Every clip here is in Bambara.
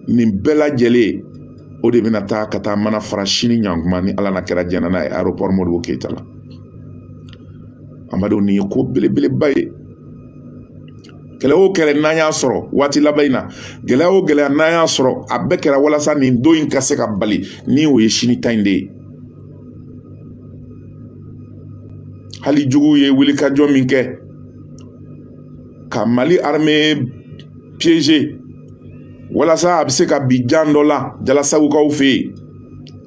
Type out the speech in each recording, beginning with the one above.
nin bɛɛ lajɛlen o de bɛna taa ka taa mana fara sini ɲankuma ni ala n'a kira jɛnna n'a ye aéroport modibo keyita la an badenw nin ye ko belebeleba ye gɛlɛya o gɛlɛya n'an y'a sɔrɔ waati laban in na gɛlɛya o gɛlɛya n'an y'a sɔrɔ a bɛɛ kɛra walasa nin don in ka se ka bali ni o ye sini ta in de ye hali juguw ye wulikajɔ min kɛ ka mali armee piéger walasa a bɛ se ka bin jan dɔ la jalasagokaw fɛ yen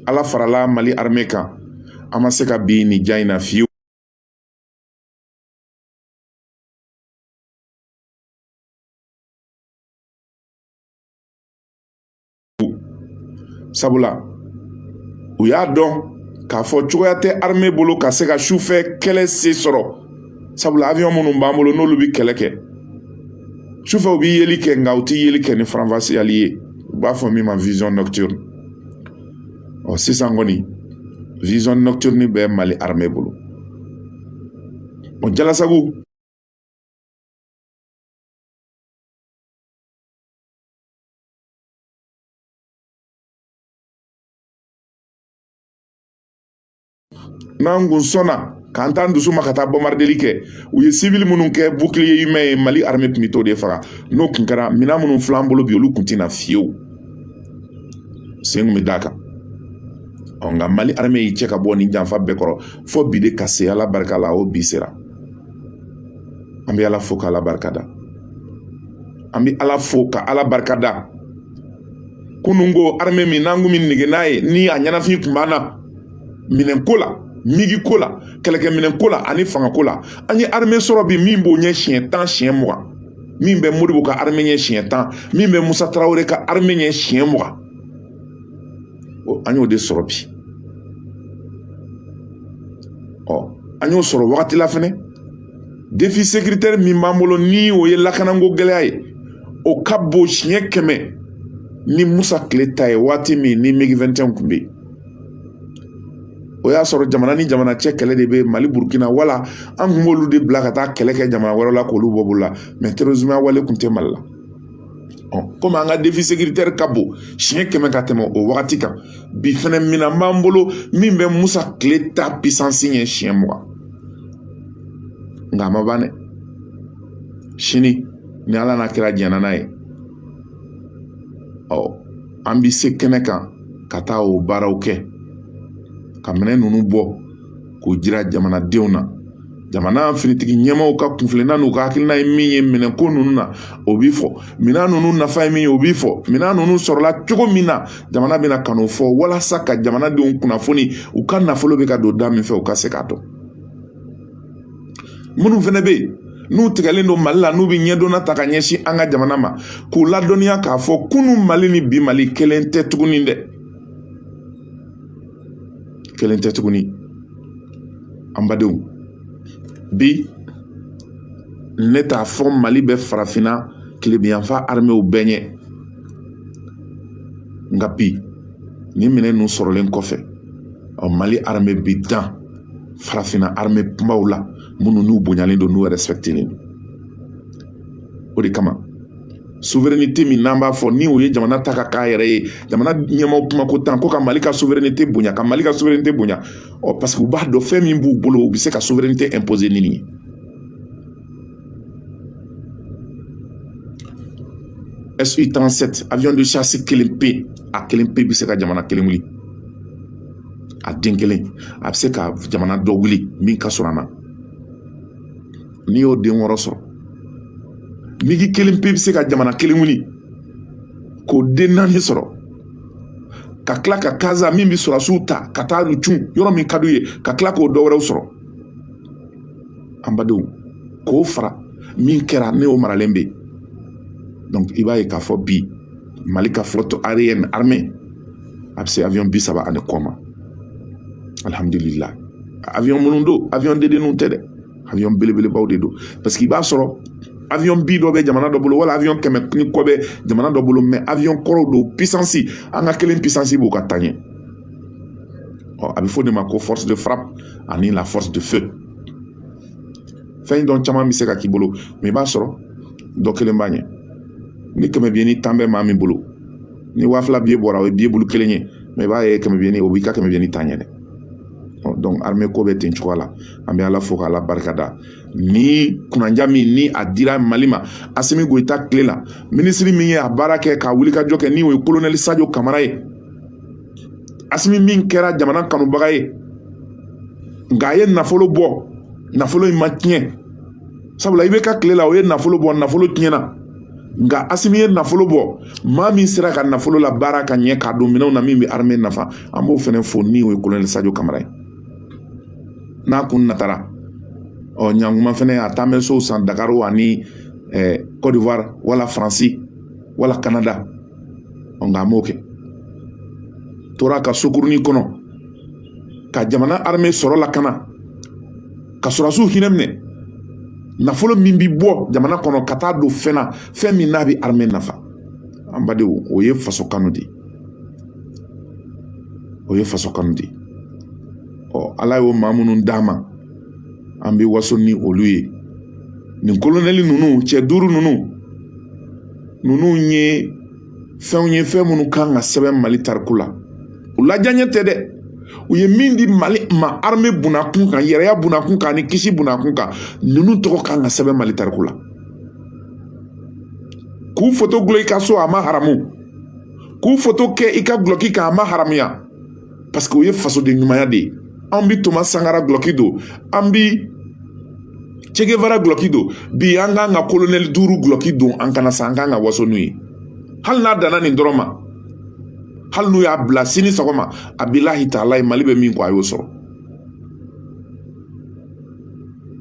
ala farala mali armée kan an ma se ka bin nin jan in na fiyewu sabula u y'a dɔn k'a fɔ cogoya tɛ armée bolo ka se ka sufɛ kɛlɛ se sɔrɔ sabula avion minnu b'an bolo n'olu bɛ kɛlɛ kɛ sufɛ u bɛ yeli kɛ nka u tɛ yeli kɛ ni faranfasiyali ye u b'a fɔ min ma vision nocturne ɔ sisan kɔni vision nocturne bɛ mali armée bolo o jalasago n'an kun sɔnna k'an t'an dusu ma ka taa bɔnbarideli kɛ u ye civil minnu kɛ bouclier humain ye mali armée tun bɛ t'o de faga n'o tun kɛra minɛn minnu filɛ an bolo bi olu tun tɛna fiyewu sen kun bɛ d'a kan ɔ nka mali armée y'i cɛ ka bɔ nin janfa bɛɛ kɔrɔ fo bi de ka se ala barika la o bi sera an bɛ ala fo k'ala barikada an bɛ ala fo ka ala barikada kunun ko armée min n'an kun bɛ nege n'a ye ni a ɲɛnafin tun b'an na minɛn ko la migi ko la kɛlɛkɛminɛn ko la ani fanga ko la an ye armée sɔrɔ bi min b'o ɲɛ siɲɛ tan siɲɛ mugan min bɛ modibo ka armée ɲɛ siɲɛ tan min bɛ musa tarawele ka armée ɲɛ siɲɛ mugan an y'o de sɔrɔ bi ɔ an y'o sɔrɔ wagati la fɛnɛ défi sécuritaire min b'an bolo ni o ye lakanako gɛlɛya ye o ka bon siɲɛ kɛmɛ ni musa tile ta ye waati min ni migi 21 kun bɛ yen o y'a sɔrɔ jamana ni jamana cɛ kɛlɛ de bɛ mali burukina wala an kun b'olu de bila ka taa kɛlɛ kɛ jamana wɛrɛ la k'olu bɔ bolo la mais terrorisme wale kun tɛ mali la komi an ka défi sécuritaire ka bon siɲɛ kɛmɛ ka tɛmɛ o wagati kan bi fɛnɛ minan b'an bolo min bɛ musa kile ta puissance ɲɛ siɲɛ mugan nka a ma ban dɛ sini ni ala n'a kira jɛnna n'a ye ɔ an bɛ se kɛnɛ kan ka taa o baaraw kɛ ka minɛn ninnu bɔ k'o jira jamanadenw na jamana finitigi ɲɛmaaw ka kunfilanan n'u ka hakilina ye min ye minɛn ko ninnu na o bi fɔ minɛn ninnu nafa ye min ye o bi fɔ minɛn ninnu sɔrɔla cogo min na jamana bɛna ka n'o fɔ walasa ka jamanadenw kunnafoni u ka nafolo bɛ ka don da min fɛ u ka se k'a dɔn minnu fɛnɛ bɛ yen n'u tigɛlen don mali la n'u bɛ ɲɛdɔnna ta ka ɲɛsin an ka jamana ma k'u ladɔnniya k'a fɔ kunun mali ni bi mali kelen tɛ tuguni dɛ kelen tɛ tuguni an badenw bi ne t'a fɔ mali bɛ farafinna kilebiyanfa armew bɛɛ ɲɛ nka bi ni minɛn ninnu sɔrɔlen kɔfɛ ɔ mali arme bi dan farafinna arme kunbaw la minnu n'u bonyalen don n'u respectelen don o de kama souveraineté min n'an b'a fɔ ni o ye jamana ta ka k'a yɛrɛ ye jamana ɲɛmaaw kuma ko tan ko ka mali ka souveraineté bonya ka mali ka souveraineté bonya ɔ parce que u b'a dɔn fɛn min b'u bolo u bɛ se ka souveraineté imposer ni nin ye SU 37 avion de chasse kelen pe a kelen pe bɛ se ka jamana kelen wuli a den kelen a bɛ se ka jamana dɔ wuli min ka surun an na n'i y'o den wɔɔrɔ sɔrɔ migi kelen pe bɛ se ka jamana kelen wuli k'o den naani sɔrɔ ka tila ka kaza min bɛ sɔrɔsiw ta ka taa u cun yɔrɔ min ka d'u ye ka tila k'o dɔ wɛrɛw sɔrɔ an badenw k'o fara min kɛra ni o maralen bɛ donc i b'a ye k'a fɔ bi mali ka flotte aérienne armée a bɛ se avion bi saba ani kɔ ma alihamudulila avion minnu don avion dendenninw tɛ dɛ avion belebelebaw de don parce que i b'a sɔrɔ avion bi dɔ bɛ jamana dɔ bolo wala avion kɛmɛ ni kɔ bɛ jamana dɔ bolo mais avion kɔrɔw don puissance an ka kelen puissance b'u ka tan ɲɛ ɔ a bɛ fɔ de ma ko force de frappe ani la force de feu fɛn dɔ caman bɛ se ka k'i bolo mais i b'a sɔrɔ dɔ kelen b'a ɲɛ ni kɛmɛ biyenin tan bɛ maa min bolo ni waa fila biye bɔra o ye biye bulu kelen ye mais i b'a ye kɛmɛ biyenin o b'i ka kɛmɛ biyenin tan ɲɛ dɛ donc armée ko bɛ ten cogoya la an bɛ ala fo k'ala barikada ni kunanja min ni a dira mali ma asimi goyita tile la minisiri min ye a baara kɛ ka wulikajɔ kɛ ni o ye kolonɛli sajo kamara ye asimi min kɛra jamana kanubaga ye nka a ye nafolo bɔ nafolo in ma tiɲɛ sabula ibeka tile la o ye nafolo bɔ nafolo tiɲɛna nka asimi ye nafolo bɔ maa min sera ka nafolo labaara ka ɲɛ k'a don minɛnw na min bɛ arime nafa an b'o fana fo ni o ye kolonɛli sajo kamara ye n'a kun natara ɔ ɲankuma fana a taa bɛ sow san dakari ani cote d'ivoire wala faransi wala kanada ɔ nka a m'o kɛ tora ka sokurunin kɔnɔ ka jamana arime sɔrɔ lakana ka sɔrɔsiw hinɛ minɛ nafolo min bi bɔ jamana kɔnɔ ka taa don fɛn na fɛn min n'a bɛ armée nafa an badenw o ye faso kanu de ye o ye faso kanu de ye ɔ ala y'o maa minnu d'an ma an bɛ waso ni olu ye nin kolonɛli ninnu cɛ duuru ninnu ninnu ye fɛnw ye fɛn minnu kan ka sɛbɛn mali tariku la u la diyanye tɛ dɛ u ye min di mali ma arme bunda kun kan yɛrɛya bunda kun kan ani kisi bunda kun kan ninnu tɔgɔ kan ka sɛbɛn mali tariku la k'u foto gulon i ka so a ma haramu k'u foto kɛ i ka gulɔki kan a ma haramuya paseke o ye fasoden ɲumanya de ye an bi toma sankara gulɔki don an bi cegevara gulɔki don bi an kan ka kolonɛli duuru gulɔki don an kan na sa an kan ka waso n'u ye hali n'a danna nin dɔrɔn ma hali n'u y'a bila sini sɔgɔma a bilahi talayi mali bɛ min kɔ a y'o sɔrɔ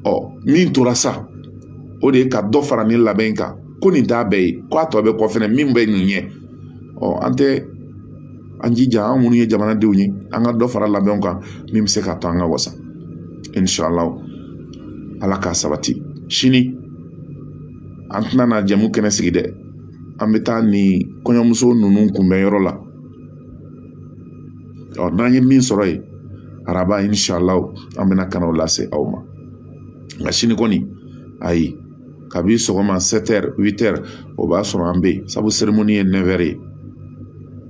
ɔ min tora sa o de ye ka dɔ fara nin labɛn kan ko nin t'a bɛɛ ye ko a tɔ bɛ kɔ fɛnɛ min bɛ nin ɲɛ ɔ an tɛ an jija an minnu ye jamanadenw ye an ka dɔ fara labɛnw kan min bɛ se k'a to an ka wasa inshallah ala k'a sabati sini an tɛna na jɛmu kɛnɛ sigi dɛ an bɛ taa nin kɔɲɔmuso ninnu kunbɛn yɔrɔ la ɔ n'an ye min sɔrɔ yen araba inshallah an bɛna ka na o lase aw ma nka sini kɔni ayi kabi sɔgɔma sept heures huit heures o b'a sɔrɔ an bɛ yen sabu seremoni ye neuf heures ye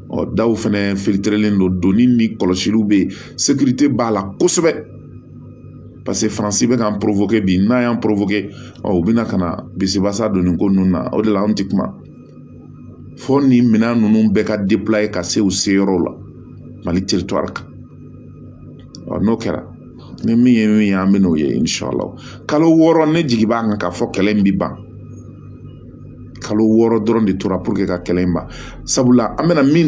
ɔ daw fɛnɛ filitirelen don doni ni kɔlɔsiliw bɛ yen sekirite b'a la kosɛbɛ paseke faransi bɛ k'an porofoke bi n'a y'an porofoke ɔ u bɛna ka na bisibasa don nin ko ninnu na o de la an tɛ kuma fo nin minɛn ninnu bɛɛ ka déployer ka se u seyɔrɔw la mali teritwari kan ɔ n'o kɛra ni min ye min ye an bɛ n'o ye inshallah kalo wɔɔrɔ ne jigi b'a kan k'a fɔ kɛlɛ in bɛ ban kalo wɔɔrɔ dɔrɔn de tora pour que ka kɛlɛ in ban sabula an bɛna min